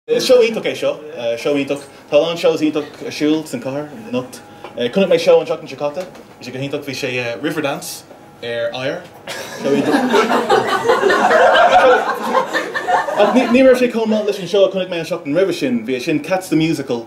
Seó iontach é seo. Seó iontach. Tá a lán shows iontach ar siúl sa chathair anocht. Chonaic mé seó an seachtain seo caite. Bhí sé go hiontach. Bhí sé Riverdance ar Ice. Seó iontach. Ach ní raibh sé chomh maith leis an seó a chonaic mé an seachtain roimhe sin. Bhí é sin Cats the Musical.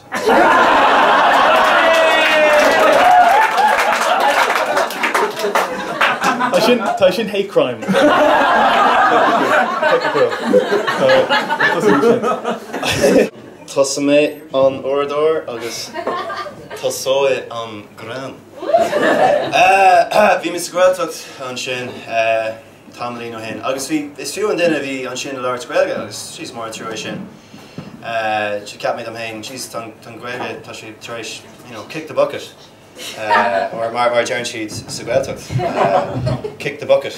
Tá sin, tá sin hate crime. Tosóidh mé an t-uaireadóir agus tosóidh an greann. Bhí mé sa Ghaeltacht ansin. tamaillín ó shin agus bhí, is fiú an duine a bhí ansin ag labhairt Gaeilge agus is mór an trua é sin. Sea, cheap mé dom fhéin jeez tá an Ghaeilge, tá sí tar éis you know kick the bucket or mar a deireann siad sa Ghaeltacht kick the bucket.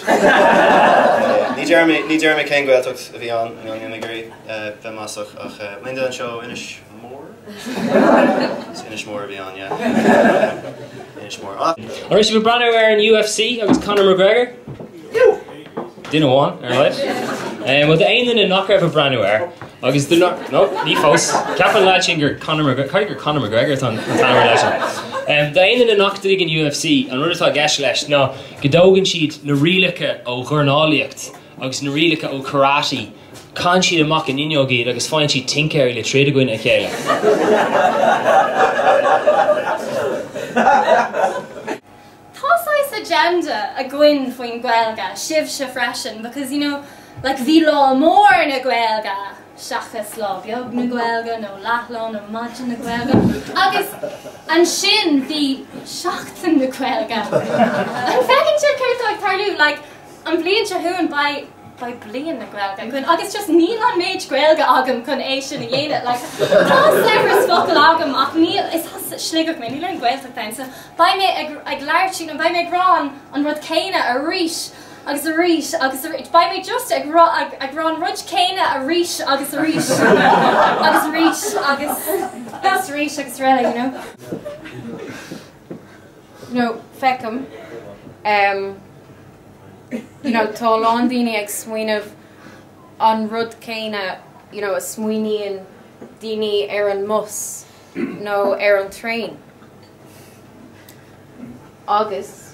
Ní deirim, ní deirim cén Ghaeltacht a bhí ann, you know níl mé ag iarraidh bheith maslach ach aon duine anseo ó Inis, Mór? Is Inis Mór a bhí ann, yeah. Inis Mór. Ah! An raibh sibh ag breathnú ar an UFC agus Conor McGregor. Duine amháin ar a laghad. Eh, well d'aon duine nach raibh ag breathnú air agus duine nach, no, ní fós. Ceapann an leaid sin gur Conor McGregor, cad é gur Conor McGregor atá an t-ainm ar an leaid sin. Eh, d'aon duine nach dtuigeann UFC, an rud atá i gceist leis ná go dtógann siad na rialacha ó dhornálaíocht agus na rialacha ó karate, Caitheann siad amach an fhuinneog iad agus faigheann siad tincéirí le troid i gcoinne a chéile. Tá saghas agenda againn faoin Gaeilge, sibhse freisin, because, you know, like, bhí Lá Mór na Gaeilge seachas Lá Beag na Gaeilge nó Leathlá na Gaeilge nó Maidin na Gaeilge agus ansin bhí Seachtain na Gaeilge. An bhfeiceann sibh céard atá ag tarlú? Like, an bhliain seo chugainn beidh. beidh Bliain na Gaeilge againn agus just níl an méid Gaeilge agam chun é sin a dhéanamh like tá saibhreas focal agam ach níl is as Sligeach mé níl aon Gaeltacht ann so beidh mé ag ag labhairt faoin an beidh mé ag rá an an rud céanna arís agus arís agus beidh mé just ag rá ag ag rá an rud céanna arís agus arís agus arís agus arís arís eile you know No, feicim. Em, you know, tá a lán daoine ag smaoineamh an rud céanna, you know, a smaoiníonn daoine ar an mbus nó ar an traein. Agus